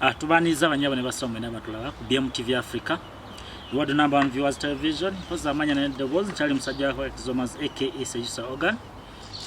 Ah, tubaniriza abanyabo ne basoma mwena batulaba ku BMTV Africa the world number one viewers television mpozi amanya ne dobozi nkyali musajja wa Exomas aka Sejisa Organ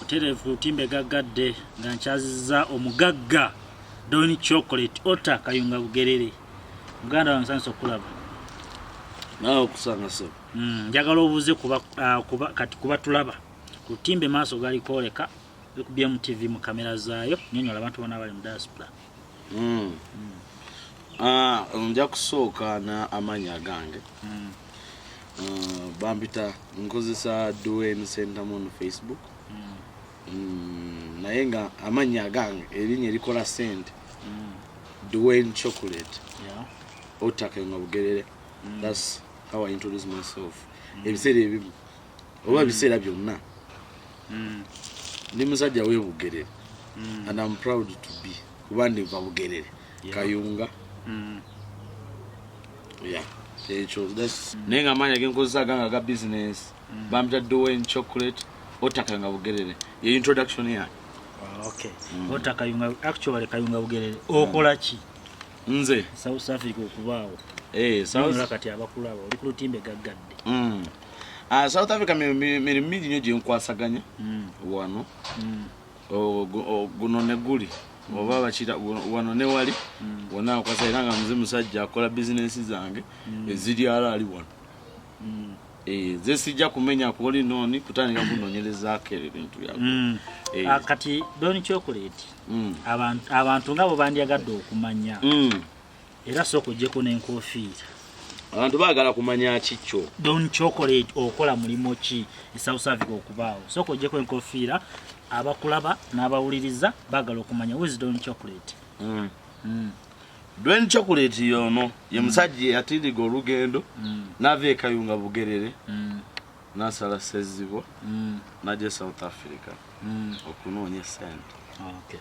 oterevu timbe gaggadde nga nkyaziza omugagga Don Chocolate Ota Kayunga Bugerere muganda wange sanso kulaba naawe okusanga so mm, njagala obuuze kuba, uh, kuba, kati kuba tulaba ku timbe maaso gali kwoleka ku BMTV mu kamera zaayo nyonyola abantu bona abali mu diaspora mm. ah, nja kusooka na amanya agange mm. ah, bambita nkozesa dwayne sentamon facebook mm. Mm, naye nga amanya agange erinya erikola sente mm. dwayne chocolate yeah. otake nga bugerere mm. thats how i introduce myself mm. ebiseera ebimu oba ebiseera mm. byonna mm. ndi musajja webugerere mm. and am proud to be kuba ndiva bugerere kayunga ekyo naye nga amaanya genkozesa ganga ga business bampita doen chocolate otakanga bugerere ye introduction yange ah, okay otakayunga actually kayunga bugerere okola ki nze south africa okubaawo eh, kati abakulaba oli ku lutimbe gaggadde mm. Ah, south africa mirimu mingi nyo gyenkwasaganya hmm. wano hmm. guno neguli hmm. oba bakira wano newali wona akwasa era nga muze musajja akola bizinensi zange eziri ara ali wano eh, zesijja kumenya kuoli noni kutandika kunonyerezako ebyo bintu byako eh. ah, kati doni kyokuleti abantu nga bwebandyagadde okumanya era sooka ojjeko n'enkofiira abantu baagala kumanya kikyo don chocolate okola mulimu ki esouth africa okubaawo sooka ojjeko enkofiira abakulaba n'abawuliriza baagala okumanya wis don chocolate mm. Mm. don chocolate yono ye mm. musajja yatindiga olugendo mm. nava ekayunga bugerere mm. nasala sezibwa mm. naja e south africa mm. okunoonya esente okay.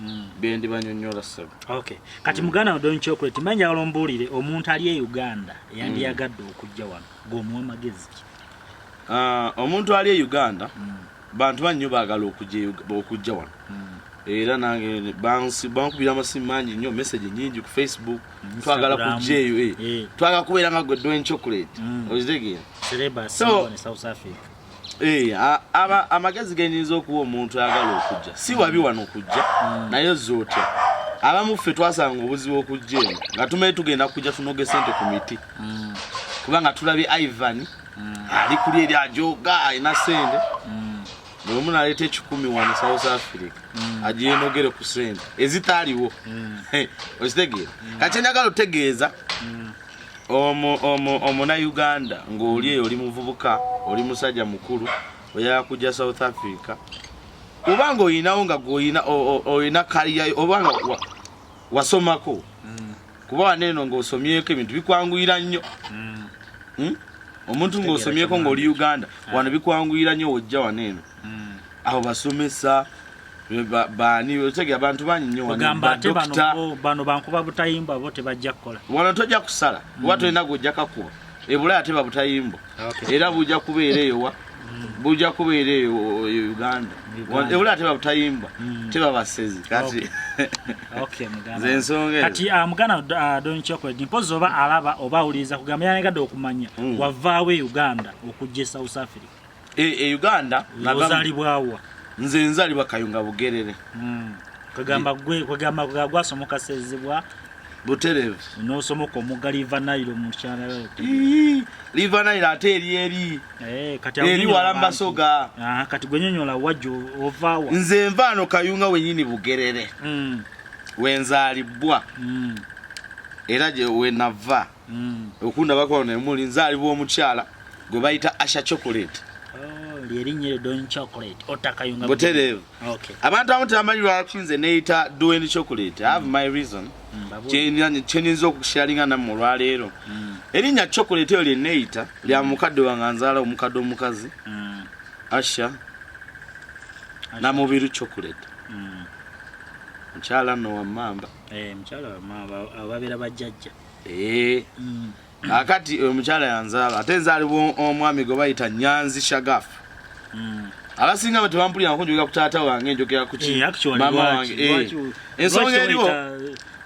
mm. byendibanyonyola sebo okay. kati mm. muganda wadoni chocolate mba njagala ombuulire omuntu ali e uganda yandiyagadde mm. okujja wano gwomuwa magezi ki uh, omuntu ali e uganda mm. bantu bannyo baagala okujja wano mm. era nange bankubira amasimu mangi nnyo message nyingi ku facebook mm, twagala kujja eyo eh. eh. twagala kubeera nga gwe dwen chocolate mm. ozitegera so Eh, amagezi genyinza okuwa omuntu ayagala okujja si wabi wano kujja hmm. naye ozza otya abamu ffe twasanga obuzibu okujja eno nga tumaye tugenda kujja tunoge sente ku miti hmm. kubanga tulabye ivan hmm. ali kuli eri ajoga alina sente bweomu naleeta ekikumi wano south africa agiyenogere ku sente ezitaaliwo okitegeera kakyenjagala otegeeza omu omu omuna Uganda ngoli eyo oli muvubuka oli musaja mukulu oyaya kuja South Africa ubanga oyinawo nga goyina oyina kaliya obanga wasomako mm. kuba waneno nga osomyeko ebintu bikwanguyira nnyo mm. hmm? omuntu nga osomyeko nga oli Uganda mm. wano bikwanguyira nnyo wojja waneno mm. aho basomesa baani otegera bantu bangi nnyo ogamba ate bano bankuba butayimbwa bo tebajja kukola wano tojja kusala mm. oba tolina gwojja kakuba ebula ate babutayimbwa ah, era bujja kubeera eyowa mm. bujja kubeera eyo uganda ebula ate babutayimbwa mm. tebabasezi kati zensonga kati ah, muganda ah, donkyokwedi mpozi oba alaba oba awuliriza kugamba yanagadde okumanya wavaawo e uganda okujja e south africa e, e uganda ozalibwawa nze nzalibwa kayunga bugerere hmm. kwegamba gwe kwegamba gwasomoka sezibwa buterevu nosomoka omuga liva nairo mukyana liva nairo ate eri eri eh, eri walambasoga ah, kati gwenyonyola wajo ovawa nze nvaano kayunga wenyini bugerere hmm. wenzalibwa hmm. era gye wenava mm. okundabako nemuli nzalibwa omukyala gwe bayita asha chocolate butereevu abantu abamu tebamanyi lwaki nze neyita doen chocolate have mm. my reason mm, kyenyinza okusharinga namu olwaleero mm. erinnya chocolate eyo lyeneyita lya mukadde wange anzaala omukadde omukazi asha namubiru chocolate mukyala no wamamba eh, mukyala wamamba ababeera bajjajja eh mm. akati oyo mukyala yanzaala ate nzaalibwa omwami gwe bayita nyanzi shagaf mm. abasinga bwe tebampulira nako njogera ku taata wange njogera kuki eh, maama wange eh. ensonga eriwo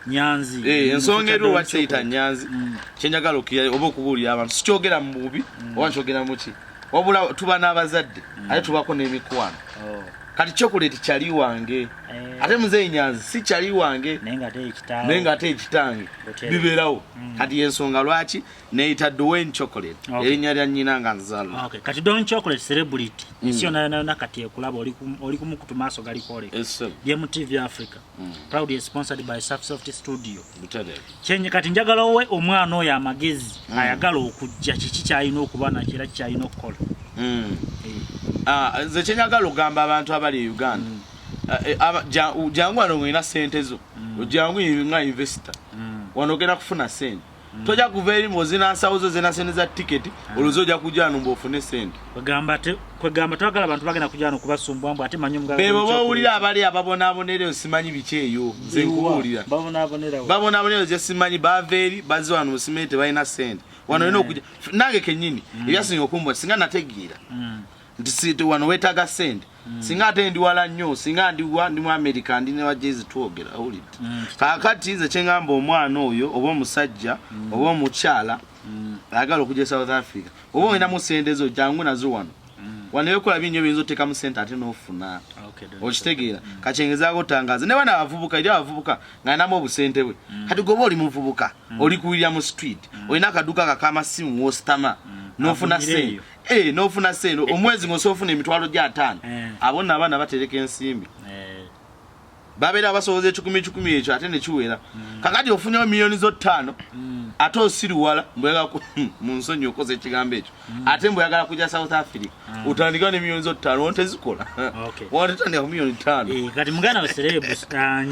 nyanzi eh, ensonga eriwo lwaki teyita nyanzi mm. kyenjagala okukira oba okubuulira abantu sikyogera mu bubi mm. oba nkyogera muki wabula tuba n'abazadde mm. ate tubako n'emikwano oh. kati chocolate kyali wange eh. ate muzeeyi nyanzi si kyali wange naye nga ate ekitange bibeerawo mm. kati yensonga lwaki neyita dwayne chocolate erinnya lya nnyina nga nzalwa kati dwayne chocolate celebrity mm. ensi yonayonayona kati ekulaba oli kumukutu maaso galikwoleka ye mu tv africa Mm. proudly sponsored by Soft Studio kyenye kati njagala owe omwana oyo amagezi mm. ayagala okujja kiki kyalina okuba nakyo era kikyalina okukola mm. eh. ah, nze kyenyagala okugamba abantu abali e uganda ah, eh, jangu wano ngolina sente zo ojangu nga investor wano ogenda kufuna sente mm. toja kuva eri mbu ozina nsawo zo zena sente za tiketi mm. oluzi oja kujano mbu ofune sente kwegamba twagala abantu bagenda kujano kubasumbwa mbu ate manyi omugala bebo bawulira abali ababonaabonera eyo simanyi biki eyo nze nkubuulira babonaabonera eyo simanyi bava eri bazze wano musimere tebalina sente wano olina mm. okuja nange kenyini ebyasinga okumbwa singa nategeera nti wano wetaaga sente Mm. singa ate ndi wala nnyo singa ndiwa ndi mu amerika ndi newa jezi twogera awulidde mm. kakati nze kyengamba omwana oyo oba omusajja mm. oba omukyala mm. ayagala mm. okuja e south africa oba olinamu sente zo jangu nazo wano mm. wanayokola binyo biyinza otekamu sente ate nofuna okay, okitegeera mm. kakyengezako otangaza ne bana abavubuka eri abavubuka ngaalinamu obusente bwe mm. kati goba oli muvubuka mm. oli kuwirira mu street mm. olina akaduka kakama simu wositama mm. nofuna sente Hey, eh, nofuna sente eh, omwezi eh. ng'osobola ofuna emitwalo gya ataano abo nno abaana batereka ensimbi babeera basoboza ekikumi kikumi ekyo ate nekiwera mm. kakati ofunyewo miliyoni zo ttaano mm. ate osiriwala hmm, mu nsonyi okoza ekigambo ekyo mm. ate mbweyagala kuja south africa utandikawo ne miliyoni zo ttaano wontezikola wontotandika ku miliyoni ttaano kati muganda waserebu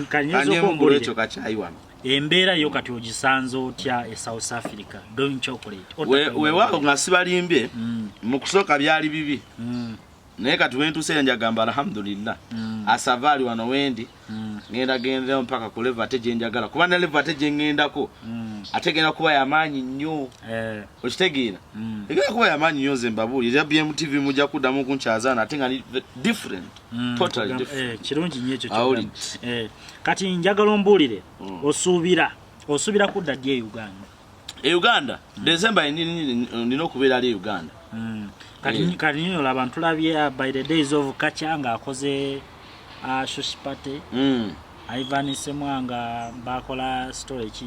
kanyiza okumbulira ekyo kakyayi wano embeera yo kati ogisanze otya e south africa doing chocolate wewawo nga sibalimbye mm. mu kusooka byali bibi mm. naye kati wentuuse enjagamba alhamdulillah mm. asava ali wano wendi ngenda gendeo mpaka ku leva ate gyenjagala kuba na leva ate gyengendako ate genda kuba yamaanyi nnyo eh. okitegeera egenda kuba yamaanyi nnyo nze mbabuuli era bmtv mujja kuddamu kunkyazaana ate nga different Mm, eh, kirungi nyo ekyo eh, kati njagala ombuulire mm. osuubira osuubira kudda ddi e uganda e uganda mm. december nina okubeera ali e uganda mm. eh. kati nyo olaba ntulabye uh, by the days of kaca nga akoze uh, shushipate mm. ivan semwanga bakola story ki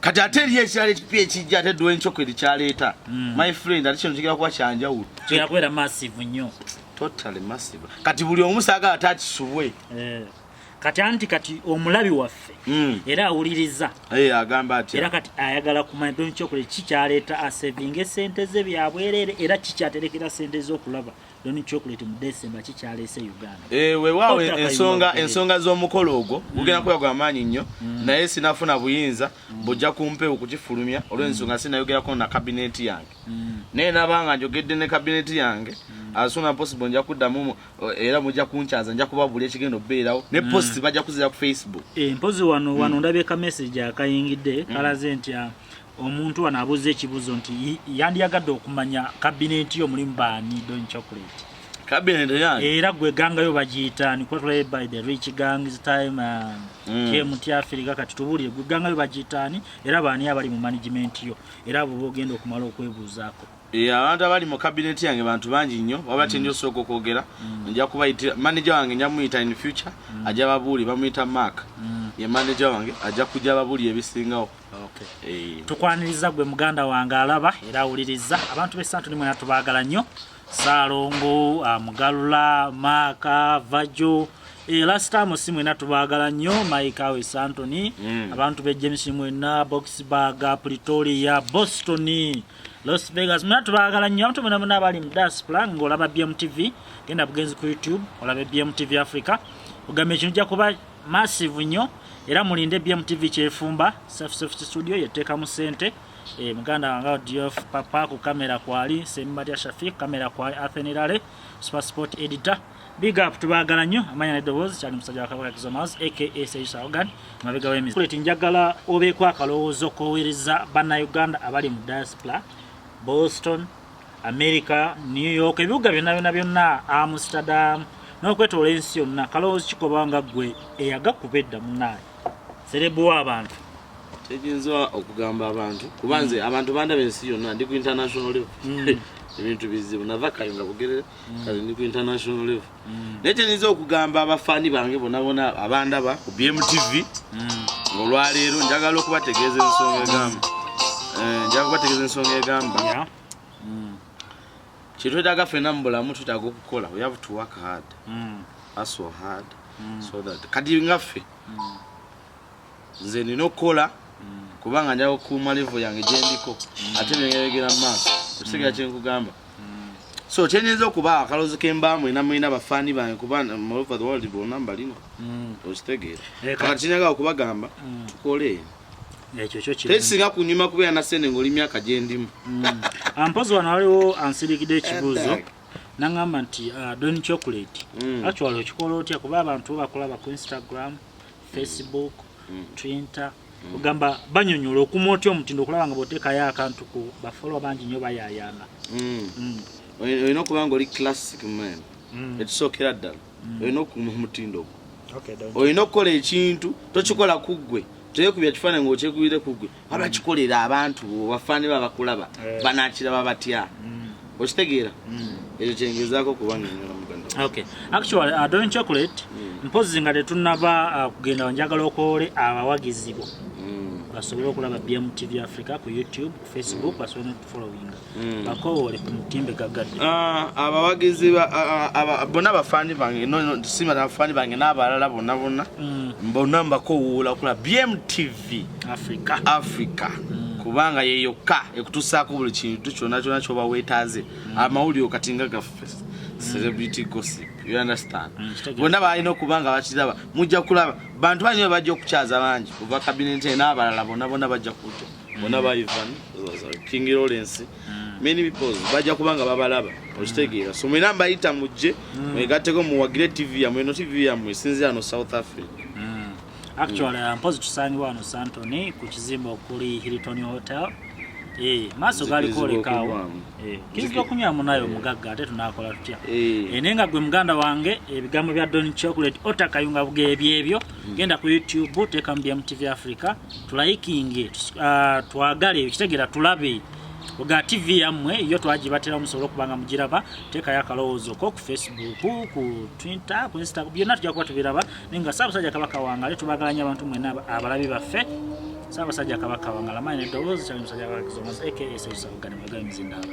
kati ate eriyo ekirala ekipya ekijja ate dwa encoko erikyaleeta hmm. my friend ate kino kigera kuba kyanjawulo kyakubeera massive nnyo totally massive kati buli omu saagala ate akisubwe eh. kati anti kati omulabi waffe hmm. era awuliriza eh, agamba ati era kati ayagala kumanya dwa encoko kikyaleeta asevinga esente ze byabwerere era kikyaterekera sente z'okulaba Don Chocolate mu December kikyaleese Uganda. Eh wewawo ensonga ensonga z'omukolo ogwo mm. gugenda kuba gwa maanyi nnyo mm. naye sinafuna buyinza mm. bujja kumpe okukifulumya olw'ensonga sinayogerako na kabineeti yange naye nabanga njogedde ne kabineeti yange asuna possible nja kuddamu era mujja kunkyaza nja kubabula ekigenda okubeerawo ne post bajja kuzira ku facebook eh, mpozi wano wano ndabye ka message akayingidde kalaze nti ah, Omuntu wano abuuza ekibuuzo nti yandiyagadde okumanya kabineeti yo mulimu baani don chocolate kabineeti yani era gwe gangayo bagiyita ni kuba tulaye by the rich gangs time uh, mm. kyemuti afirika kati tubuulire gwe gangayo bagiyita ani era baani abali mu management yo era abo bogenda okumala okwebuuzaako e, abantu abali mu kabineeti yange bantu bangi nnyo waba mm. kyendi osooka okwogera mm. nja kubayitira manaja wange nja muyita in future mm. ajja babuuli bamuyita mark mm. ye manaja wange ajja kujja babuuli ebisingawo Eh. tukwaniriza gwe muganda wange alaba era awuliriza abantu besantu ni mwena tubagala nnyo saalongo ah, mugalula maaka vajo eh, last time si mwena tubagala nnyo mike awe santony mm. abantu be james mwena boxburg pretoria boston los vegas mwena tubagala nnyo abantu mwena mwena abali mu diaspora ng'olaba bmtv genda bugenzi ku youtube olabe bmtv africa ogamba ekintu jakuba massive nnyo era mulinde BMTV kyefumba safe safe studio yeteka mu sente e muganda wanga DF papa ku kamera kwali Sembadia Shafiq kamera kwali Athenirale super sport editor big up tubagala nnyo amanya ne dobozi kyali musajja wa kabaka kizomaz aka Sage Saugan mabega wemi kuleti njagala obe kwa kalowoozo kowereza bana Uganda abali mu diaspora Boston america new york ebibuga byonna byonna byonna amsterdam n'okwetoola ensi yonna kalowoozi kikoba nga ggwe eyagakuba edda munaye serebu w'abantu kyenyinza okugamba abantu kuba nze mm. abantu bandaba ensi yonna ndi ku international level mm. ebintu bizibu nava kayo nga bugerere mm. kati ndi ku international level mm. naye kyenyinza okugamba abafaani bange bonabona abandaba ku bmtv mm. olwaleero njagala okubategeeza ensonga egamba eh, njagala kubategeeza ensonga egamba mm. kyetwetaga fena mu bulamu twetaga okukola we have to work hard aso hard so that kati ngaffe nze nina okukola kubanga nja kukuuma levo yange gyendiko ate byengeyogera mu maaso okusigala mm. kyenkugamba mm. so kyenyinza okuba akaloozi kembaamu ena mulina bafaani bange kuba molover the world bonna mbalina mm. okitegeera eh, kati kinyaga okubagamba tukole tekisinga kunyuma kubeera na sente ngaoli myaka gyendimu ampozi wano waliwo ansirikide ekibuuzo eh, nangamba nti uh, don chocolate actually okikola otya kuba abantu bakulaba ku instagram facebook mm. twitter mm. ogamba banyonyola okuma otya omutindo okulaba nga botekayo akantu ku bafolo bangi nyo bayayana mm. mm. olina okuba nga oli classic man mm. ekisookera ddala mm. olina okuma omutindo ogwo okay, olina okukola ekintu tokikola kuggwe teyekubya kifaananyi ngaokyekubire kuggwe waba kikolera abantu bafaani ba bakulaba eh. banakiraba batya mm. okitegeera mm. ekyo kyengezako kubanyonyola muganda okay actually uh, don chocolate mm. mpozi nga tetunaba uh, kugenda wanjagala okwole abawagizi bo basobole okulaba bmtv africa ku youtube ku facebook basobole nokutufollowinga Mm. bakowole ku mutimbe gagadde ah, abawagizi bona abafani bange sima abafani bange n'abalala bonna bonna mm. bona mbakowoola kula bmtv africa africa mm. kubanga yeyokka ekutusaako buli kintu kyona kyona kyoba wetaaze amawuliro kati nga gaffe celebrity gossip you understand bonna balina okuba nga bakiraba mujja kulaba bantu banyo bajja okukyaza bangi kuva kabineti n'abalala bona bona bajja kujja bona ba Ivan King Lawrence mm. many people bajja kubanga babalaba okitegeera so mwena mbayita mujje mm. mwegatteko muwagire tv yamwe no tv yamwe esinzira ano south africa mm. actually mm. mpozi tusangibwa wano santony ku kizimba okuli hilton hotel eh, maaso galikolekaawo eh, kizira okunywa munayo omugagga eh. ate tunakola tutya naye nga gwe muganda wange ebigambo bya don chocolate otakayunga bugeebyebyo genda ku youtube teekamu bmtv africa tulayikinge ah, twagale kitegera tulabe oga tv yammwe yo twagibatera musobole okubanga mugiraba teekayo akalowoozo ko ku facebook ku twitter ku insta byonna tujja kuba tubiraba naye nga saabasajja kabaka wangale tubagalanya abantu mwena abalabi baffe saabasajja kabaka wangala mayi neddoboozi kyali musajja kabakizomas akasausaugane mwagala mizindaaba